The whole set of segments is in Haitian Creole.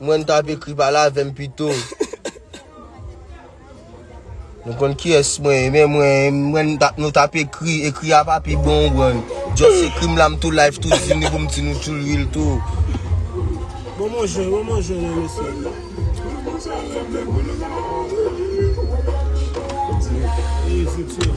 Mwen tap ekri pale avem pito. Nou konn kiyes mwen ye men mwen nou tap ekri, ekri a pa pi bon ou konprann. Just ekri m la m tou live tou di nou pou m di nou tou lwi l tou. Bon mwen jwenn, bon mwen jwenn an mesye. Eee se ti an.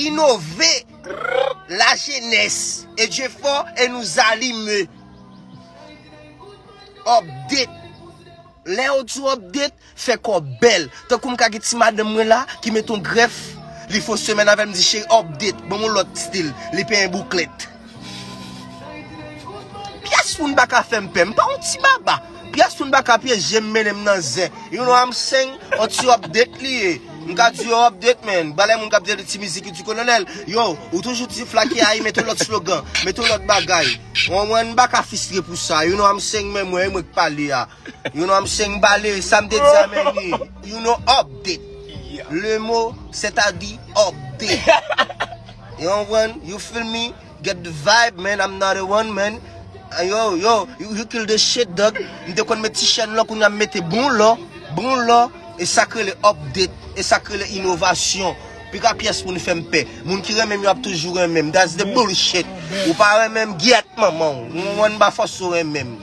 Inove la jenes e je fò e nou zalime Update Lè ou di update fè kò bèl Tankou m ka gen ti madanm mwen la ki met yon grèf Li fon semèn avè m di cheri update Ban m yon lòt stil Li penyen bouklèt Pyès moun pa ka fèm pè, m pa yon ti baba Pyès moun pa ka pyeje m mennen m nan zen You know I'm saying, yon ti update li ye M ka di yo update man, balè moun k ap tande ti mizik Youdi Kolonèl Yo, ou toujou di flake a, mete yon lòt slogan, mete yon lòt bagay Ou anmwey, m pa ka fistre pou sa You know I'm saying, men mwen, e mwen k pale a. You know mse mbale sa m te di a men ni You know update Le mot c'est à di update You konprann You feel me Get the vibe man I'm not a one man Yo yo You kill the shit dog M te konn met ti chèn lò kounya m mete bon lò Bon lò E sa k rele update E sa k rele inovasyon Pi ka pyès moun fè m pè Moun ki renmen m yo ap toujou renmen m That's the bullshit Ou pa renmen m gyèt manman w Ou konprann m pa fòse w renmen m.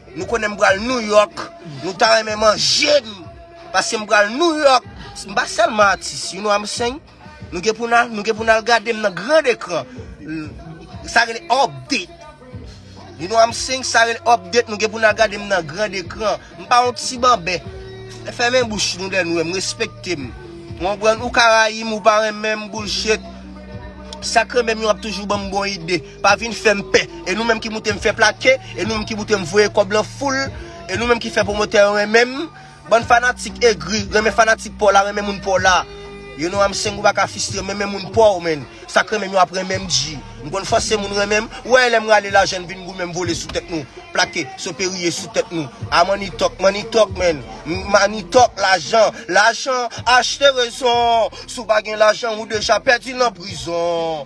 Nou konnen m pral New York, nou ta renmen manje m, paske m pral New York, m pa sèlman atis, you know I'm saying? Nou gen pou n al, nou gen pou n al gade m nan grand ecran, sa rele update, you know I'm saying, sa rele update, nou gen pou n al gade m nan grand ecran, m pa yon ti banbè, fèmen bouch nou lè nou wè m, respekte m, ou konprann, ou ka rayi m, ou pa renmen m, bullshit, sa k renmen m yo ap toujou ban m bon ide. Pa vin fèm pè E nou menm ki moutem fè plake E nou menm ki moutem voye kòb lan foul E nou menm ki fè pwomotè yo renmenm Bann fanatik egri Renmen fanatik paw la renmen moun paw la You know I'm saying ou paka fistrem renmen moun paw menn Sak renmenm yo ap renmenm bgy M konn fòse moun renmenm Ou wè lèm rale lajan n vin goumenm vole sou tèt nou Plake sope riye sou tèt nou Ah money talk money talk menn M money talk lajan lajan achte rezon Si w pa gen lajan ou deja pèdi nan prizon.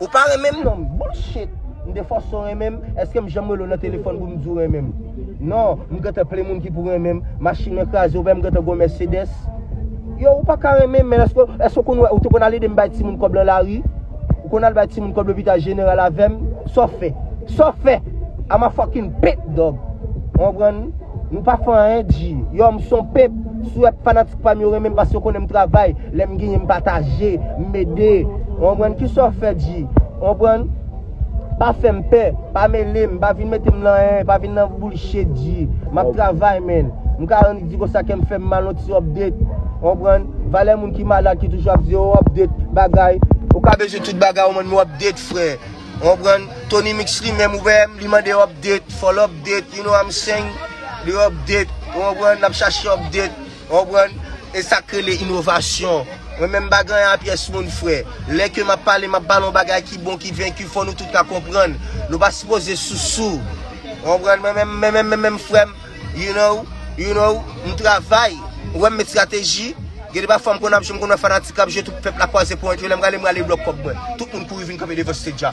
Ou pa renmen m non, bullshit! M te fòse w renmen m, èske m janm rele w nan telefòn pou m di w renmen m? Non, m gentan plen moun ki pou renmen m, machin mwen kraze ouvè m gentan gwo Mercedes. Yow ou paka renmen m men èske w konn wè ou te konn al ede m bay timoun kòb lan lari? Ou konn al bay timoun kòb lopital jeneral avè m? Sa w fè? Sa w fè? I'm a fucking pimp dog! Ou konprann? Nou pa fè anyen di. Yow m son pimp, si w wè fanatik pa m yo renmen m pase yo konnen m travay. Lèm genyen m pataje, m ede, ou konprann, kisa w fè di, ou konprann, pa fèm pè, pa melem, pa vin metem nan anyen, pa vin nan bullshit di, map travay man, m ka annik di konsa kèm fèm mal yon ti update, ou konprann, valè moun ki malad ki toujou ap di oh update bagay, ou ka bezwen tout bagay ou mande m update frè, ou konprann, Tony mix li menm ou wèm li mande update, fòl update, you know I'm saying, li update, ou konprann, lap chache update. Ou konprann? E sak rele inovasyon. Mwen menm m pa ganyan a pyès moun frè. Lè ke map pale map pale yon bagay ki bon ki venki fò nou tout ka konprann. Nou pa sipoze sousou. Ou konprann? Mwen menm mwen menm menm frèm you know you know m travay ou wèm met strateji gen de pafwa m konn ap jwe m konn wè fanatik kap jwe tout pèp la kwaze ponyèt yo lèm prale m rale blòk kòb mwen. Tout moun kouri vin kanpe devan stage a.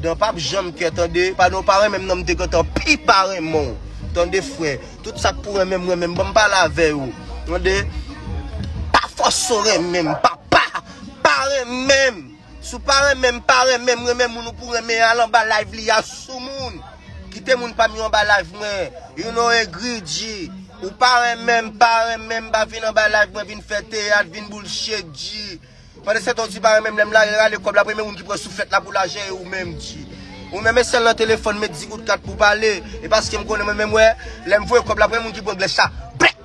Dan pap janm kè tande Pa nan w pa renmen m nan m te gentan pi pa renmen w Tande frè Tout sa k pou renmen m renmen m Ban m pale avè yo Tande Pa fòse w renmen m papa Pa renmen m Si w pa renmen m pa renmen m Renmen moun ou pou renmen Al anba live li a soumoun Kite moun pa m yo anba live mwen You know egri Dji Ou pa renmen m pa renmen m Pa vin anba live mwen vin fè teyat Vin boulchet Dji. Pandanstan ou di pa renmenm lèm lage rale kòb la premye moun ki pran souflèt la pou lajan e ou menm di ou menm e sèl nan telefòn met 10 goud kat pou pale e paskem konnen mwen menm wè lèm voye kòb la premye moun ki pran glès la blèk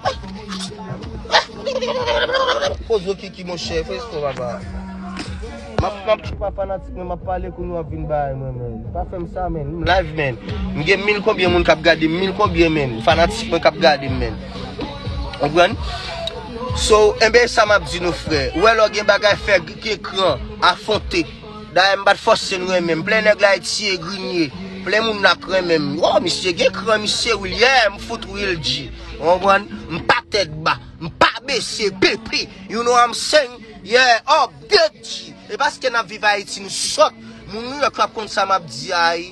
poze ou kiki monchè fè espò papa map map se pa fanatik men map pale kounye wap vin bay mwen men pa fèm sa men m live men m gen mil konbyen moun kap gadem mil konbyen men fanatik mwen kap gadem men. Konprann? So, enben e sa m ap di nou frè. Ou wè lè w gen bagay fè gen kran, afwonte. Dayè m pa t fòse n renmen m. Plen nèg la eti e grinye. Plen moun la k renmen m. Woo misye gen kran misye wi l. Yeah m fout ri l di. Ou konprann? M pa tèt ba. M pa bese. PP! You know I'm saying? Yeah Up! Bgy! E paske n ap viv Ayiti nou sòt. Moun New York yo ap konn sa m ap di a ii.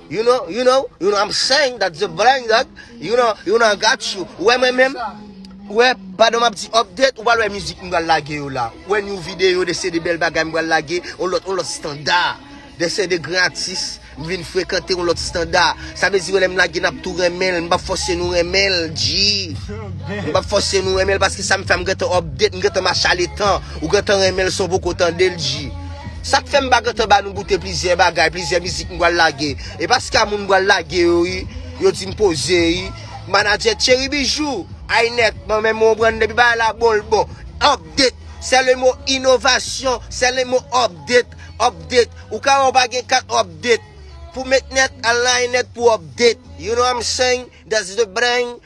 You know, you know, you know I'm saying that the blind dog, you know, you know I got you. Ou wè mwen menm, ou wè, padan map di update, ou pral wè mizik m pral lage yo la. Ou wè new video, de se de bèl bagay m pral lage, on lòt, on lòt standa. De se de gran atis, m vin frekante on lòt standa. Sa vle di wè lè m lage nap tou renmen l, m pap fòse nou renmen l, G. M pap fòse nou renmen l paske sa m fè a m gentan update, m gentan mache ale tan. Ou gentan renmen l san w poko tande l, G. Sak fèm pa gentan ba nou goute plizyè bagay, plizyè mizik m pral lage. E pa ska moun m pral lage yo wi, yo di m poze wi. Manadjè Tchery Bijou, Ainet, mwen menm konprann depi bagay la bon l bon. Update, c'est le mot innovation, c'est le mot update, update. Ou ka wè ou pa gen kat update. Pou met net, al nan Ainet pou update. You know what I'm saying? That's the brain.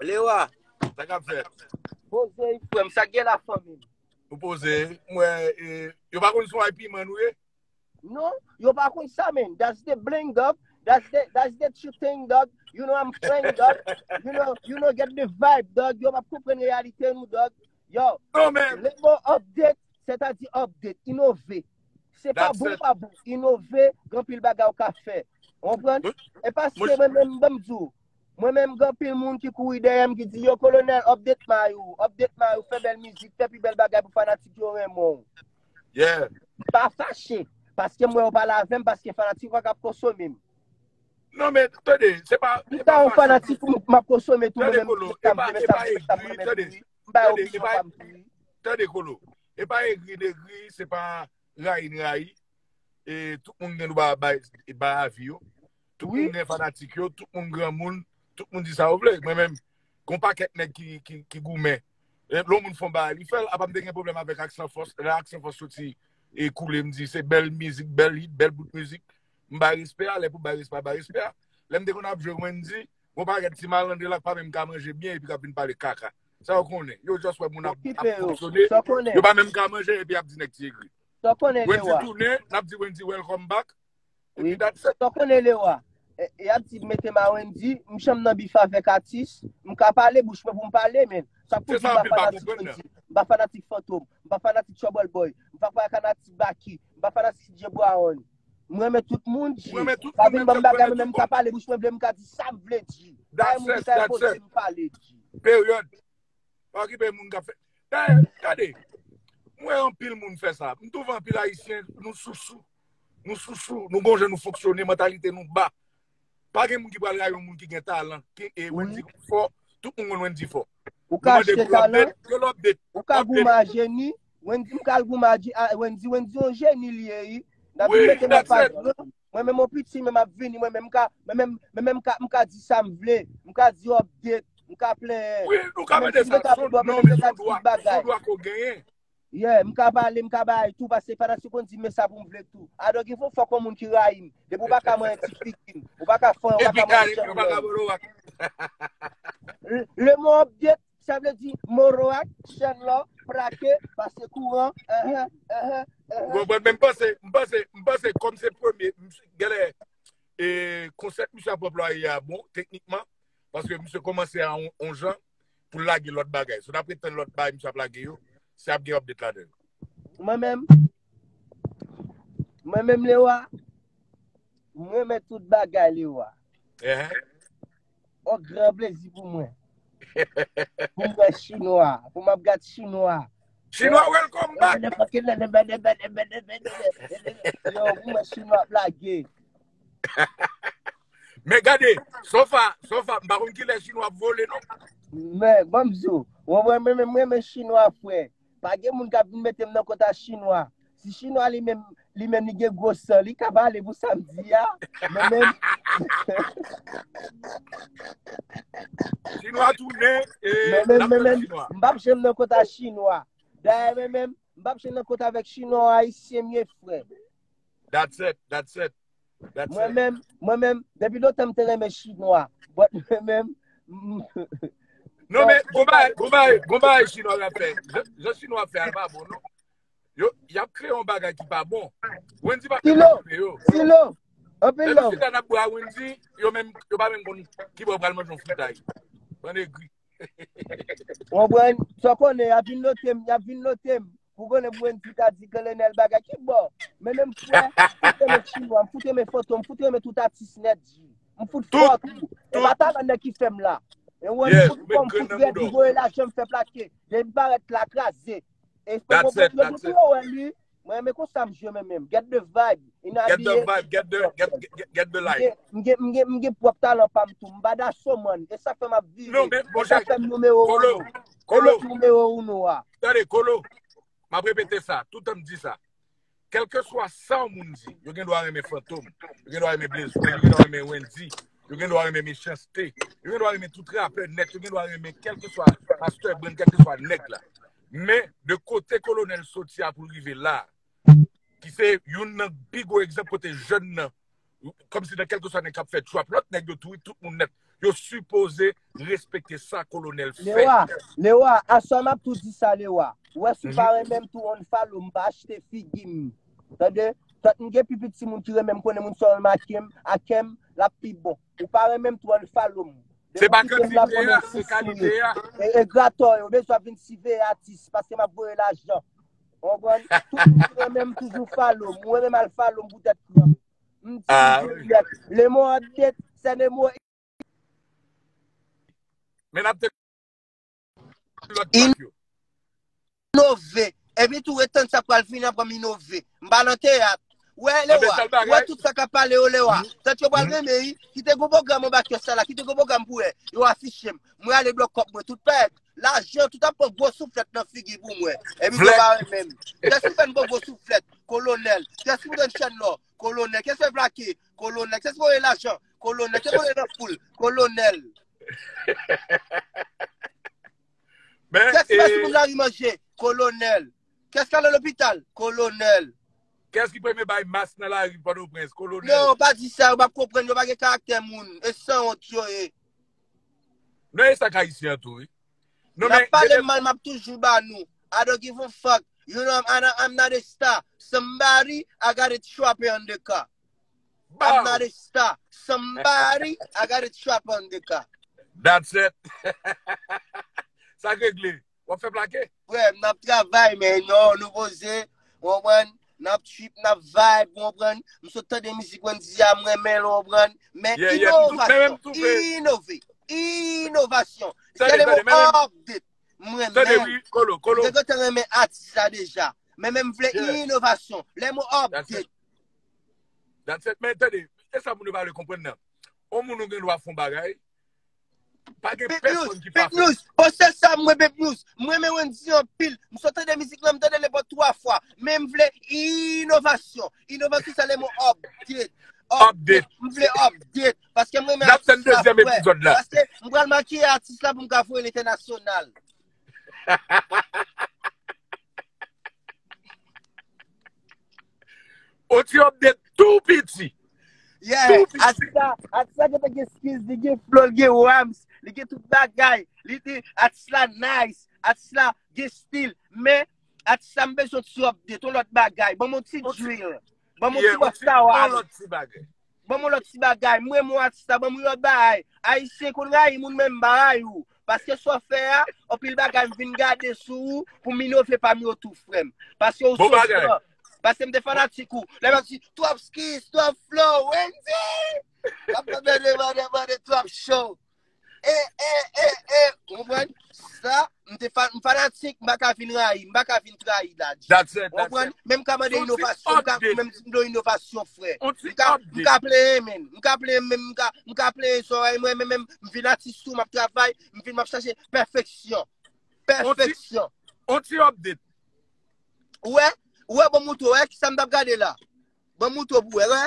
Lewa, sa kap fèt? Poze yi frèm, sa gen la fanmi? Ou poze, mwen, e, yo pa konn swa yi piman nou ye? Non, yo pa konn sa men, that's the bling dog, that's the, that's the true thing dog, you know I'm playing dog, you know, you know get the vibe dog, yo pap konpren reyalite nou dog, yo, non, men, le mo update, se ta di update, inove, se pa bon pa bon, inove, gen pil bagay ou ka fè, ou pren, e pa se mwen mwen mwen mdou, Mwen menm gen anpil moun ki kouri dèyè m ki di yo kolonèl update may ou, update may ou, fè bèl mizik, fè pi bèl bagay pou fanatik yo renmen w. Yeah. Pa fache, paske m wè ou pale avè m paske fanatik ou ak ap konsome m. Non men, tande, se pa, e pa fache. Lè yon fanatik ou m ap konsome tou mwen menm m di sa m renmen, sa m renmen, sa m renmen tou wi. M bay opinyon pa m tou wi. Tande Kolo, e pa egri degri, se pa rayi n rayi, e tout moun gen dwa bay avi yo. Tout moun gen fanatik yo, tout moun gran moun, tout moun di sa yo vle. Mwen menm, kon pa kèk nèk ki goumen. Lè yon moun fon ba, li fèl, apa m te gen problem avèk ak san fòs. Lè ak san fòs soti, e koule m di, se bèl mizik, bèl hit, bèl bout mizik. M bay respè a, lè pou bay respè a, bay respè a. Lè m te kon ap jwe Wendy, mwen pa gen ti malandre la k pa menm ka manje byen epi k ap vin pale kaka. Sa yo konnen. Yo just wè moun ap fonksyone, yo pa menm ka manje epi y ap di nèk ti egri. Wendy tounen, n ap di Wendy welcome back. Epi dat sa. Tan konnen le wa. E ap di mete ma Wendy, m janm nan bif avèk atis, m ka pale bouch mwen pou m pale men. Sa pou di m pa fanatik Wendy, m pa fanatik Fantom, m pa fanatik Trouble Boy, m pa fanatik Baky, m pa fanatik DJ Brown. M renmen tout moun G. Pa vin banm bagay mwen menm m ka pale bouch mwen vle m ka di sa m vle G. Bay moun ki ta enpoze m pale G. Period. Pa okipe moun kap fè. Dayè, gade, m wè anpil moun fè sa. M twouve anpil ayisyen nou sousou. Nou sousou, nou gonjan nou fonksyone, mantalite nou ba. Pa gen moun ki pral rayi yon moun ki gen talan. Ki e Wendy fò, tout moun konn Wendy fò. Ou ka achte talan, ou ka goumen a jeni, Wendy m kal goumen a Wendy, Wendy yon jeni li ye ui. David mete mwen pa gran, mwen menm yon piti menm ap vini, mwen menm m ka m ka di sa m vle, m ka di update, m ka plenyen. Wi, nou ka mete sa, son dwa, son dwa ke w genyen. Yeah, m ka pale, m ka bay tou pase fanatik konn di m men sa pou m vle tou. I don't give a fuck on moun ki rayi m. Depi w pa ka manyen ti figi m, ou pa ka fanyen, ou pa ka manyen janm lè m. Le mo update sa vle di moroak, chèn lò, prake, pase kouran, eh eh, eh eh, eh eh. Ou konprann men m panse, m panse, m panse kòm se premye, genlè konsèp misye ap anplwaye a bon teknikman paske misye kòmanse a on jan pou lage lòt bagay. So dapre tann lòt bagay misye ap lage yo, se ap gen update ladan yo. Mwen menm, mwen menm Lewa, mwen renmen tout bagay Lewa. On gran plezi pou mwen. Pou mwen wè chinwa, pou mwen ap gad chinwa. Chinwa welcome back! Yo, pou mwen chinwa ap lage. Men gade, sofa, sofa, m pa konn ki lè chinwa ap vole non. Men, banm diw, mwen mwen mwen mwen mwen chinwa fwe, pa gen moun kap vin metem nan kont a chinwa, si chinwa li menm, li menm li gen gwo san, li ka pale pou sam di ya, mwen menm. Chinwa tou ne, e, mwen menm, mwen menm, m pap jem nan kont a chinwa, daye mwen menm, m pap jem nan kont avek chinwa ou ayisyen mye fwe, That set, that set, that set. Mwen menm, mwen menm, depi lontan m te renmen chinwa, but mwen menm, m. Non men, gon bagay, gon bagay, gon bagay chinwa yo ap fè. Jan chinwa ap fè a l pa bon non. Yo, y ap kreye yon bagay ki pa bon. Wendy pa fè sa pou yo. Silo, silo, anpil love. Lè nou chita n ap bwe a Wendy, yo menm, yo pa menm konn ki bò yo pral manje yon fritay. Bann egri. Ou konprann? Sa w konnen, y ap vin note m, y ap vin note m. Pou konnen pou Wendy ta di Kolonel bagay ki bo. Men menm fwe, fout renmen chinwa, m fout renmen fantom, m fout renmen tout atis net di. M fout fwa tou. E pa talan nan ki fem la. E wan m fout fwa, m fout red, m voye la jem fe plake. Yen m paret la kraze. E fwe m fout renmen tout yo wen li. Mwen renmen konsa m jwe men menm. Get the vibe. Get the vibe, get the, get, get, get the life. M gen, m gen, m gen pwop talan pa m tou. M bada so man. E sa fem ap vive. Non men, bon chak. E sa fem noumero 1. Kolo! Kolo numero uno a. Tande, Kolo, m ap repete sa, toutan m di sa. Kèlkeswa sa yon moun di, yo gen dwa renmen Fantom, yo gen dwa renmen Blaze One, yo gen dwa renmen Wendyy, yo gen dwa renmen Mechans T, yo gen dwa renmen tout rapè nèt, yo gen dwa renmen kèlkeswa Pastè Brand, kèlkeswa nèg la. Men, de kote Kolonèl soti a pou l rive la a, ki se youn nan pi gwo egzanp kote jèn nan Kòm si nan kèlkeswa nèg k ap fè trap lòt nèg yo tou wi, tout moun nèt. Yo sipoze respekte sa kolonèl fè. Lewa, Lewa, aswè m ap tou di sa Lewa. Ou wè si w pa renmen m tou unfollow m pa achte figi m. Tande, tant m gen pi piti moun ki renmen m konnen moun sèlman ake m, ake m, l ap pi bon. Ou pa renmen m tou unfollow m. Se pa kantite a, se kalite a. Egratò yo bezwen vin siveye atis paske m ap voye lajan. Ou konprann? Tout moun ki renmen m toujou follow m. Mwen menm al follow m pou tèt pranm. M itilize dirèk. Le mot en date, c'est le mot Men ap tande lòt track yo. Inove. Epi tou etan sa pral fini apre m inove. M pa nan teyat. Ou wè Anbe Lewa? sal Ou wè bagay. tout sa k ap pale yo Lewa? Tant yo pral renmen wi. Kite gwo pwogram anba kès sa la. Kite gwo pwogram pou wè. Yo afiche m. Mwen ale blòk kòk mwen tout pèt. Lajan tout ap pran gwo souflèt nan figi pou mwen. Epi Vlek. yo pa renmen m. Kè si w fè n pran gwo souflèt, kolonèl? Kè si w rann chèn lò, kolonèl? Kè si w plake, kolonèl? Kè si w voye lajan, kolonèl? Kè si w voye nan foul, kolonèl? Men, Kè si w e, bay timoun lari manje, kolonèl? Kè si w ale lopital, kolonèl? kès ki premye bay mas nan lari Pòtoprens, kolonèl? Non, pa di sa, yo pa konprann, yo pa gen karaktè moun. E sanwont yo ye. Nan esak ayisyen an tou wi. Non men. Nap pale m mal map toujou ba nou. I don't give a fuck, you know I'm ana I'm not a star, somebody I got a trapper on the car. Baww. I'm not a star, somebody I got a trapper on the car. That's it. Sa k regle. Wap fè plake? Frè, m ap travay men non, nou poze, ou konprann, n ap trip, n ap vibe, ou konprann, m sot tande mizik Wendyy a, m renmen l ou konprann, men inovasyon, inove, inovasyon, se le mo update, m renmen, m te kontan renmen atis la deja, men men m vle inovasyon, le mo update. That's it men, tande, se sa moun yo pa vle konprann nan, ou moun ou gen dwa fon bagay, Pa gen pèsonn ki pa fèl. Bon sè Sam mwen Bebnous, m renmen Wendy anpil, m sot tande mizik lan m tande le bon 3 fwa, men m vle inovasyon, inovasyon sa le mo update, update, m vle update, paske m renmen atis la frè, paske m pral makiye atis la pou m ka voye l entènasyonal. Oti update tou piti. Yeah, atisa, atisa gen te gen skills, li gen flow, li gen rhymes, li gen tout bagay, li di, atis la nice, atis la gen stil, men, atis la m bezwen ti update, yon lòt bagay, banm yon ti drill, banm yon ti bossa waz. Ban mwen lòt ti bagay, m renmen w atis la, ban mwen lòt bagay, ayisyen konn rayi moun men m pa rayi w, paske sa w fè a, anpil bagay m vin gade sou ou pou m inove pa m yo tou frè m, paske ou se san, paske m te fanatik ou, lè m ap di, twòp skis, twòp flow, Wendyy! M ap mande mande mande twòp show. E, e, e, e, ou konprann? Sa, m te fan, m fanatik, m pa ka vin rayi, m pa ka vin trayi Dadji. That's it, Ou that's konprann? it. Menm ka mande Yon ti inovasyon, m ka, update. menm si m do inovasyon frè. On ti M ka, m update. ka plenyen men, m ka plenyen menm, m ka, m ka plenyen zòrèy mwen, men menm, m vin atis tou, m ap travay, m vin m ap chache pèfeksyon. Pèfeksyon. On ti update. Ou wè, ou wè bon mouton, ou wè ki sa m t ap gade la? Bon mouton pou wè, wè?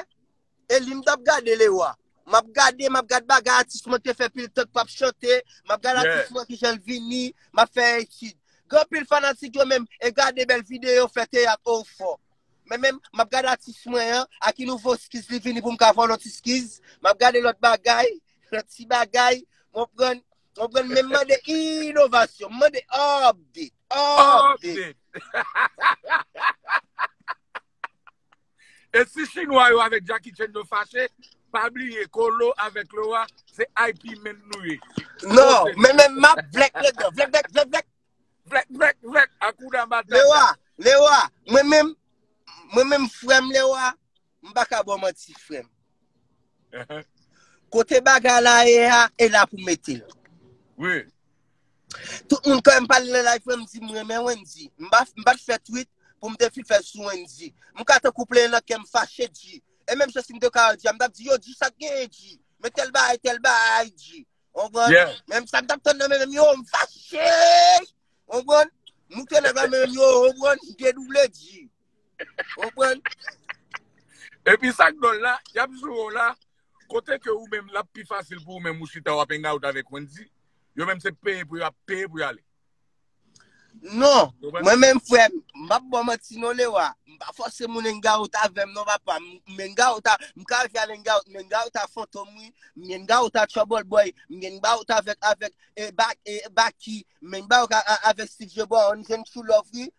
Eli m tap gade Lewa. Map gade map gad bagay atis mwen te fè pil tan k pap chante map gad atis mwen kijan l vini map fè etid gen anpil fanatik yo menm e gade bèl video fè teyat oo fò men menm map gad atis mwen an a ki nouvo skiz li vini pou m ka vòl yon ti skiz map gade lòt bagay lòt ti bagay konprann konprann menm mande inovasyon m mande update update E si chinwa yo avèk Jackie Chan yo fache, pa bliye Colo avèk Laura se IP menn nou ye. Non, men men map vlèk lèd nan. Vlèk vlèk vlèk vlèk. Vlèk vlèk vlèk akouda matata. Laura, Laura, mwen menm mwen menm frèm Laura, m pa ka ba w manti frèm. Kote bagay la ye a, e la pou mete l. Wi. Tout moun kèm pale nan live mwen m di m renmen Wendy. M pa t fè tweet pou m te fin fè l sou Wendy. M ka tankou plenyen nan kè m fache di. E menm jan si m te ka Wendy a m t ap di yo di sa k genyen di. Men tèl bagay tèl bagay di. Ou konprann? Yeah. Menm sa m t ap tann nan men m yo m fache. Ou konprann? Moute nan men m yo ou konprann? Dedouble di. Konprann? Epi sak dòl la, yap joure w la, kote ke ou menm lap pi fasil pou ou menm ou chita wap hang out avèk Wendy, yo menm se peye pou yo ap peye pou yo ale. Non, mwen menm frè m, m pap ba w manti non Lewa, m pa fòse moun hang out avè m non papa, m hang out a, m ka rive al hang out, m hang out a Fantom wi, m hang out a Trouble Boy, m hang out avèk, avèk, e Baky, m hang out avèk Steve Jobon, on jwenn true love wi.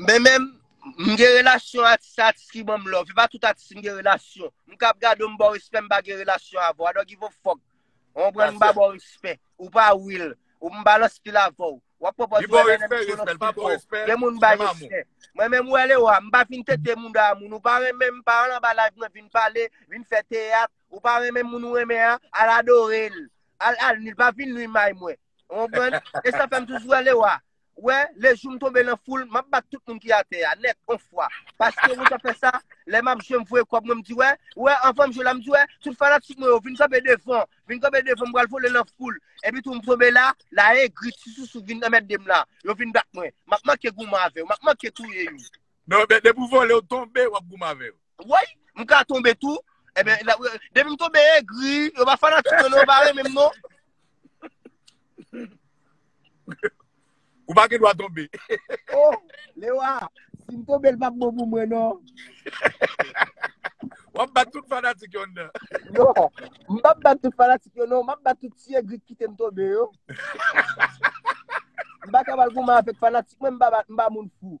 Men menm, m gen relasyon atis se atis ki banm love, e pa tout atis m gen relasyon. M kap gade w m ba w respè m pa gen relasyon avè w, I don't give a fuck. Ou konprann m ba ba w respè. Ou pa will, ou m pa nan stil avè w. Wap pwopòze Li ba w wè nèm respè, ki yo nan respè l, pa stil ba w pa w. respè, Gen moun m bay menm amou. respè. Mwen menm wè le wa, m pa vin tete mouda moun, ou pa renmen m pa al anba live mwen vin pale, vin fè teyat, ou pa renmen moun ou renmen an, al adore l, al al nwi l, pa vin nwi may mwen. Konprann? E sa fè m toujou ale wa. Wè, le jou m tonbe nan foul, m ap bat tout moun ki atè a, nèt, on fwa. Paske wè sa fè sa, lè m ap jwe m voye kòb mwen m di wè, wè, anvan m jwe la m di wè, tout fanatik mwen yo vin kanpe devan, vin kanpe devan m pral vole nan foul. Epi tou m tonbe la, la egri, ti sousou vin anmède m la. Yo vin bat mwen. M ap manke goumen avè yo, m ap manke touye yo. Non, men depi w vole, w tonbe, w ap goumen avè yo. Woy, m ka tonbe tou. Eben, depi m tonbe egri, yo pa fanatik mwen non, yo pa renmen m non. Ou pa gen dwa tonbe. Oh, Lewa, si m tonbe l pa bon pou mwen non. W ap bat tout fanatik yo nan. Non, m pa bat tout fanatik yo non, m ap bat tout ti egri ki kite m tonbe yo. M pa ka pral goumen avèk fanatik mwen, m pa moun fou.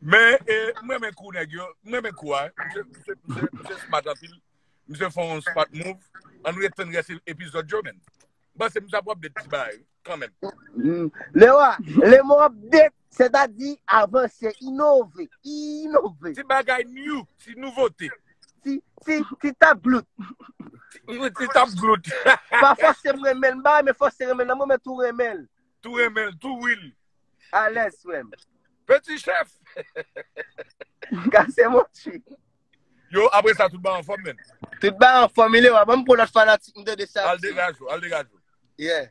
Men, e, m renmen kou nèg yo. M renmen kou a. Misye, misye, misye, misye smart anpil. Misye fè yon smart move. An nou ret tann rès epizòd yo, men. M panse misye ap update ti bagay, kanmenm. Lewa, lèmou update, sètadi avanse, inove, inove. Ti bagay new, ti nouvote. Ti, ti, ti tap glout. Yon ti tap glout. Pa fòse m renmen l bay, men fòse renmen nan mwen men tou renmen l. Tou renmen l, tou wil. Alèz frè m. Peti chèf. Kase mò tchi. Yo, apre sa tout ba anfòm men. Tout ba anfòm, ilè wap, an m pou lòt fanatik m de de sa. Al degaj ou, al degaj ou. Yeah.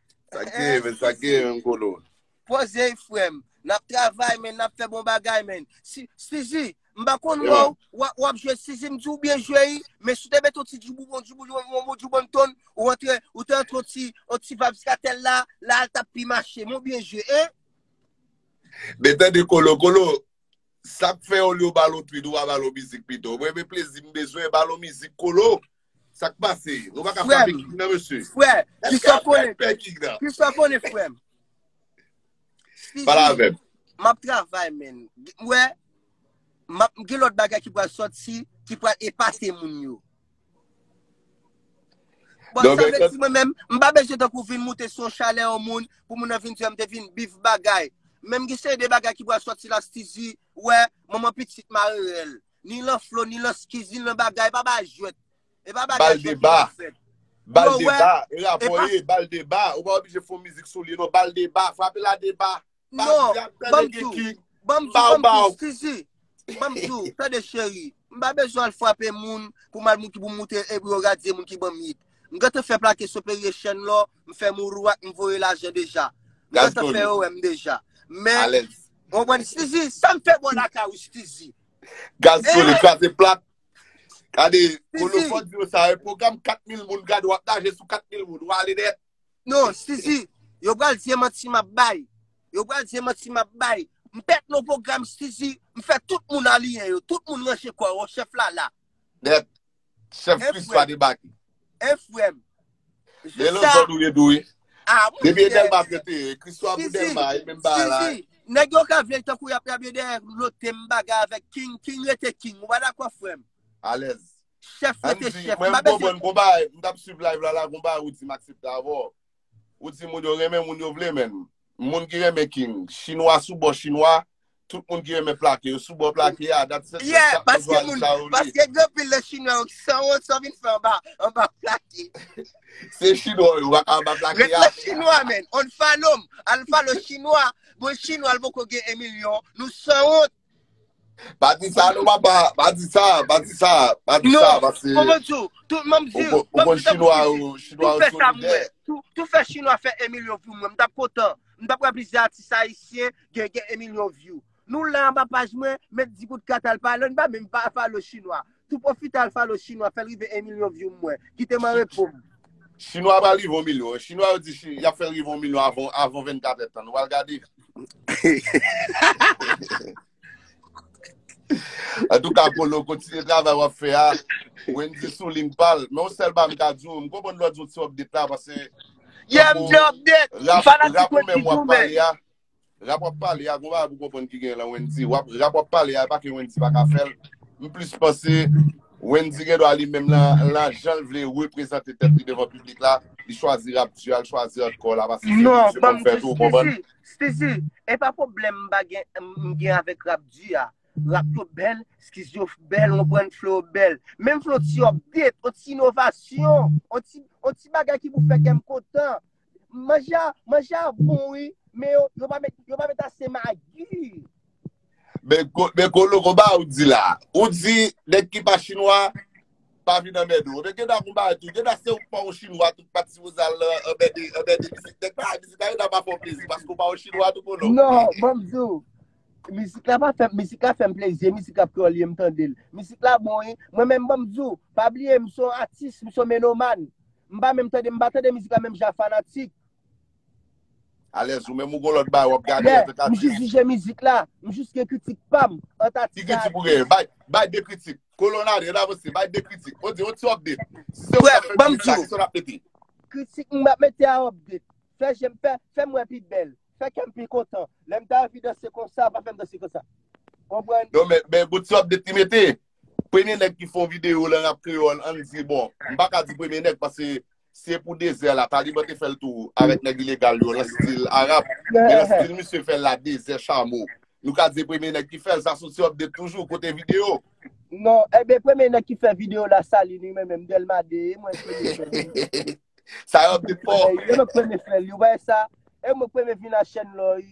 Sak gen men, sak gen men kolo. Poze frem, nap travay men, nap fe bon bagay men. Sizi, mba konn wou, wap jwe sizi, mdi ou byen jwe yi, men sou te met ou ti djoubou bon djoubou, yon bon bon djoubou bon ton, ou antre, ou te antre ou ti, ou ti vabs katel la, la al tap pi mache, mou byen jwe, e? Men ten de kolo, kolo, sak fe ou li ou balon twit, ou wap balon mizik pito, mwen men plezi mbezwen balon mizik kolo. Sak pase? Nou pa ka frape kik nan mesye? Frè, ki sa konen? Ki sa konen frè? Pala avèm. M ap travay men. Wè, m ap gen lòt bagay ki pral sòt si, ki pral epase moun yo. Bon, sa mwen si mwen men, m pa bejè tan kou vin moute son chalè yon moun, pou moun nan vin diyan m te vin bif bagay. Men m gen seri de bagay ki pral sòt si la stizi, wè, moun mwen pitit marerèl. Ni lan flo ni lan skiz ni lan bagay pa bay jwet. E pa bagay jwet ki lan fèt. Bal de ba, e rapò e, bal de ba, ou pa oblije fon mizik sou li non, bal de ba, frape la de ba, pa di ap tè de gen king, bam bam bam, sisi, bam di ou, tè de cheri, m pa bezwen al frape moun, pou mal moun ki pou moute e bro radye moun ki bam yit, m gen te fè plake sou peri e chèn lò, m fè mou rou ak m voye laje deja, m gen te fè ou em deja, men, bon bon sisi, sa m fè bon la ka ou sisi. Gaz sole kraze plat. Kade, kolo fòt diyo sa, e program 4.000 moun gade wap naje sou 4.000 moun, wale net. Non, si si, yo pral diye manti map bay. Yo pral diye manti map bay. M pèt non program si si, m fè tout moun aliyen yo, tout moun ranje kò yo, chèf la la. Net. Chef Christ va debake. E frem. Gen lòt zòn ou ye tou wi. Depi e Delma ke te ye. Christo a pou Delma e menm bagay la. Nèg yo ka vle tankou yap rable dèyè lote m bagay avèk King, King rete King ou pa dakò frèm? Alèz. Chèf rete chèf. Mwen m konprann konpa, m tap swiv live la la konpa ou di m aksepte avèw. Ou di moun yo renmen moun yo vle menn. Moun ki renmen king. Chinwa sou bò chinwa. Tout moun ki renmen plake yo sou bò plake a. Dat se se sa moun jwa li la ou li. Paske gen pil nan chinwa yo ki san wont san vin fè anba anba plake. Se chinwa yo wak anba plake a. Ret la chinwa menn. On follow m. Al follow chinwa. Bon chinwa l poko gen 1 milyon. Nou san wont. Pa di sa nou papa, pa di sa, pa di sa, pa di sa Non, pase mwen mwen diw, tou mwen mwen diw, mwen mwen diw ta pou Chinois, chinois tou fè sa mwen, tou, tou fè Chinois fè 1 milyon view mwen, mwen tap kontan, mwen tap wè plizyè atis ayisyen gen gen 1 milyon view. Nou la anba paj mwen, met di kout kat al pale, nou pa menm pa follow Chinois. Tou profite al follow chinwa fèl rive 1 milyon view m wè. Kitem an repo m. Chinwa pral rive 1 milyon. Chinwa yo di yap fèl rive 1 milyon avan 24 èd tan. Nou pral gade. Antouka Polo kontinye travay wap fè a. Wendy sou ling pal. Men yon sèl bagay m ka diw. M konprann lè w di w ti update la pase. Yeah m gen update. M fanatik Wendy tou men. Rap wap pale a gon bagay pou konprann ki gen lan Wendy wap rap wap pale a epa ke Wendy pa ka fèl m plis panse Wendy gen dwa li menm lan lan janl vle reprezante tèt li devan piblik la li chwazi rap di a li chwazi hardcore la paske se li misye konn fè tou ou konprann. Non banm di Steezy Steezy epa pwoblèm m pa gen m gen avèk rap di a rap yo bèl skiz yo bèl ou konprann flow yo bèl menm flow ti update on ti inovasyon on ti on ti bagay ki pou fè kèm kontan Manje a, manje a bon wi, men yo, yo pa met, yo pa met ase magi. Men, men kolo konba ou di la. Ou di, nèg ki pa chinwa, pa vin anmède ou. Men gen da konba tou, gen da se ou pa ou chinwa tou, pa ti vouzal la, anmède, anmède mizik. Nèg pa a mizik la, gen da pa fè ou plezi, paske ou pa ou chinwa tou kolo. Non, banm di ou, mizik la pa fèm, mizik la fèm plezi, mizik la kreyòl ye, m tande l. Mizik la bon wi. Mwen menm banm di ou, pa bliye m son atis, m son menoman. M pa menm tande m pa tande mizik la menm jan fanatik. Alèz ou menm ou gon lòt bagay wap gade antank atis. Yeah, m jis jije mizik la, m jis gen kritik pam ant atis ak atis. Ki kritik ou genyen? Bay, bay 2 kritik. Kolon ale, an avanse, bay 2 kritik. On di, on ti update. Si se ou k ap fè mizik la, kisa w ap mete? Kritik m ap mete a update. Fè je m fè, fè m wè pi bèl. Fè kè m pi kontan. Lè m ta anvi danse konsa, pa fè m danse konsa. Konprann? Non men, men gon ti update li mete. Premye nèg ki fè yon videyo lan rap kreyòl ann di bon, m pa ka di premye nèg paske si e pou Dezè la, Taliban te fè l tou avèk nèg ilegal yo lan stil Arab, men lan stil misye fè l la Dezè Chamo. Nou ka di e premye nèg ki fè l, sa sou ti update toujou, kote videyo? Non, enben premye nèg ki fè videyo la sali li men menm Dèlma 2, e mwen k premye fè l wi. Sa update fò. E mwen k premye fè l wi, ou pa wè sa? E mwen k premye vin a chèn lan wi.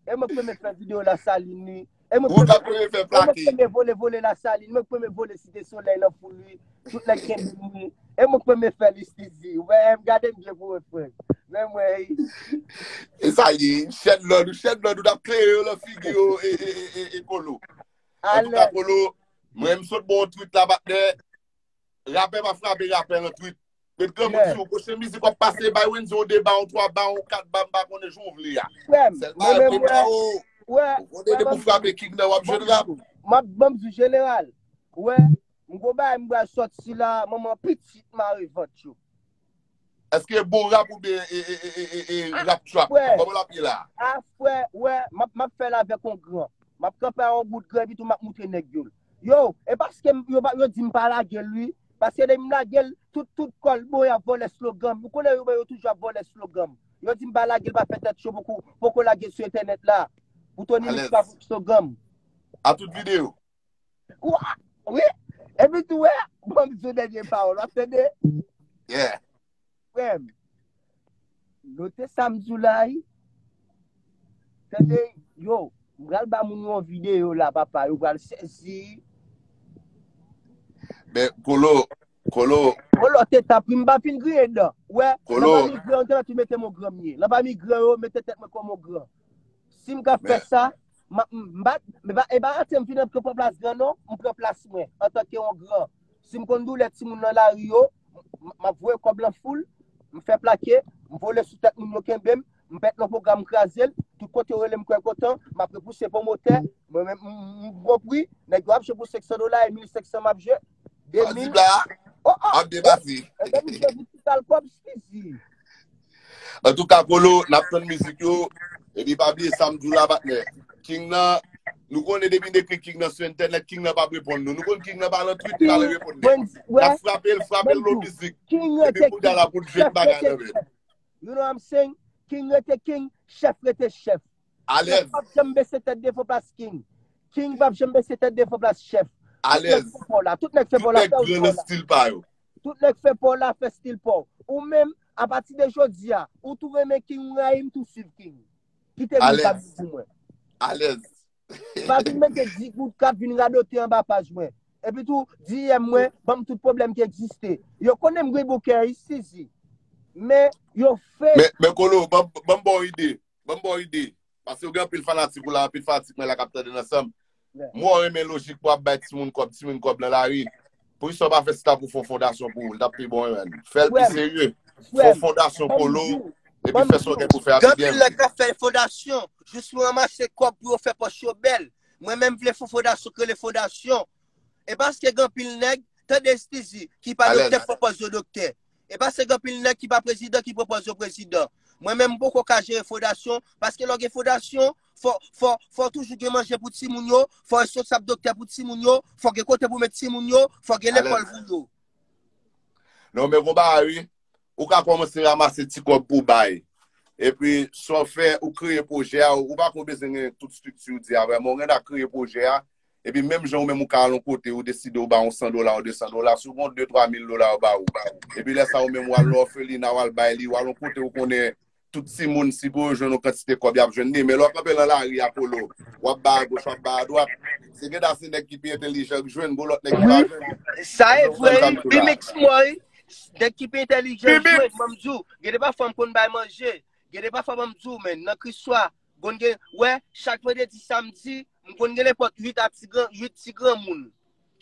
E mwen premye fè video la salin li. E mwen premye vole vole la salin li. E mwen premye vole vole la salin li. E mwen premye vole site solèy la pou li. Tout lèk gen bim li. E mwen premye fè li stizi. Ou wè m gade m byen pou mwen fwen. Mwen mwen. E sa ye. Chèn lò nou. Chèn lò nou. Dap kleye yo lò figi yo. E e e e e polo. A lè. An tou ka polo. Mwen m sot bon twit la batè. Rapè pa frape rapè an twit. Met granmoun Yeah. sou yo. Pwochen mizik wap pase bay Wendy yon 2 ba, yon 3 ba, yon 4 ba, m pa konnen jan w vle a. Frèm, Sèl mwen bay menm mwen wè, oh. wè, Ou wè dede pou Bamzou, frape king nan wap jwenn rap. Bamzou, map Bamzou jeneral, wè, m gon bagay m bral sòt sila, manman pitit mare vant yo. Eske bon rap ou byen e, e, e, e, e, e rap trap? Frè. Koman lap ye la? A frè, wè, map, map fèl avèk on gran. Map kanpe a on bout gran epi tou map moutre nèg yo l. Yo, e paskem yo pa, yo dim pa lagel wi, Paske lè m lage l, tout tout kò l bon y ap vòlè slogan m. Ou konnen yo menm yo toujou ap vòlè slogan m. Yo di m pa lage l pa fè tèt cho pou kou poko lage l sou entènèt la. Pou Tony Mix pa vòlè slogan m. A tout videyo. Kwa? Wi. Epi tou wè, banm di w dènye pawòl. W ap tande? Yeah. Frèm, note sa m di w la wi. Tande, yo, m pral ba moun yo yon videyo la papa, yo pral sezi. Men, Kolo, Kolo. Kolo, te tanpri, m pa fin griyen dan. Ou wè, Kolo. Lan pami gran yo te mèt tou mete m ogran m ye. Lan pami gran yo, mete tèt mwen kòm ogran. Si m ka fè sa, M pa e pa rate m fin ap pran plas gran non, m pran plas mwen antanke yon gran. Si m konn doulè timoun nan lari yo, m ap voye kòb lan foul, m fè plake, m vole sou tèt moun yo kenbe m, m pèt nan pwogram m kraze l, tout kote yo rele m kwè kontan, m ap repouse pwomotè, mwen menm m pran pri, nèg yo ap jwe pou 500 dola e 1500 m ap jwe, An di bla, ap debati. E te misye di ti sal kòb sisi. An tou ka polo, nap ton mizik yo, e bi pa bli e sam di w la patnè. King nan, nou konnen depi n ekri King nan sou entènèt, King nan pap reponn nou. Nou konnen King nan pa lan twit li pral reponn nou. Nap frape l, frape l lon mizik. E bi pou dala pou l jwenn bagay nan men. You know what I'm saying? King rete King, chèf rete chèf. Chef pap janm bese tèt devan plas king. King pap janm bese tèt devan plas chef. Tout nèg fè paw la. Tout nèg fè paw la fè ou paw la. Tout nèg fè paw la fè stil paw. Ou menm, apati de jodia, ou tou renmen king ou rayim tou swiv king. Kite moun sa viv pou mwen. Alèz. Pa vin mete di kout kap vin radote anba paj mwen. Epi tou, DM mwen, banm tout pwoblèm ki egziste. Yo konnen m gri bouke, i sizi. Men, yo fake. Men kolo, banm baw ide. Ban m ba w ide. Paske ou gen anpil fanatik ou la, anpil fanatik mwen la k ap tande n ansanm. Mwen renmen lojik pou ap bay timoun kòb, timoun kòb nan lari. Poukisa w pa fè staff ou fè yon fondasyon pou ou? L t ap pi bon wi. Fè l pi serye. Fè yon fondasyon Polo epi fè sa w gen pou w fè a pi byen. Gen anpil nèg k ap fè fondasyon jis pou ranmase kòb pou yo fè pòch yo bèl. Mwen menm vle fè yon fondasyon k rele fondasyon. E paske gen anpil nèg, tande Stizy, ki pa doktè k pwopòz yo doktè. E pa se gen pil nèg ki pa prezidan ki pwopòz yo prezidan. Mwen menm m poko ka jere fodasyon, paske lè w gen fodasyon, fò, fò, fò w toujou gen manje pou timoun yo, fò w responsab doktè pou timoun yo, fò gen kote pou w met timoun yo, fò gen lekòl pou yo. Non men gon bagay wi, ou ka kòmanse ramase ti kòb pou w bay, epi sa w fè ou kreye pwojè a, ou pa ko bezwen gen tout strikti ou di a vrèman, ou gen dwa kreye pwojè a, Epi menm jan ou menm ou ka al yon kote ou deside ou ba yon 100 dola ou 200 dola, si ou gen 2, 3 mil dola yo ba ou. Epi lè sa ou menm ou al nan òfelina ou al bay li, ou al yon kote ou konnen tout timoun si pou yo jwenn yon kantite kòb y ap jwenn li. Men lè w kanpe nan lari a Polo, w ap bay agoch, w ap bay adwat, se gen da se nèg ki pi entelijan k jwenn, gon lòt nèg ki pa jwenn. Wi, sa e vre wi, pi miks mwen wi. Nèg ki pi entelijan jwenn, m ap di w, gen de pafwa m konn bay manje, gen de pafwa m ap di w men nan kris swa, M konn gen, wè, chak vandredi, samdi, m konn gen nenpòt 8 a ti gran, 8 ti granmoun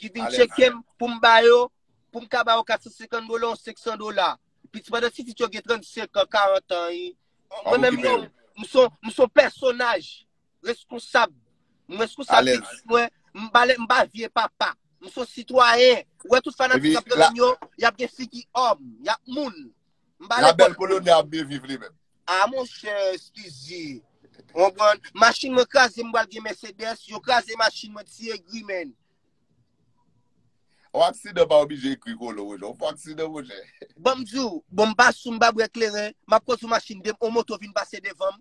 ki vin tcheke m pou m ba yo, pou m ka ba yo 450 dola ou 500 dola. Piti pandan ti pitit yo gen 35 an, 40 an, e. Mwen menm yo, m s on, m s on pèsonaj reskonsab. M reskonsab pitit mwen, m pa le, m pa vye papa. M s on sitwayen. Ou wè tout fanatik k ap gade m yo, y ap gen figi òm, y ap moun. La belle colonie ap byen viv li menm. Ah monchè scusi. Konprann? Machin mwen kraze m pral gen Mercedes, yo kraze machin mwen ti egri menn. On aksidan pa oblije egri kolo monchè, on fo aksidan monchè. Banm diw, bon m pa sou m pa bwè kleren, map kondwi machin 2 m on moto vin pase devanm,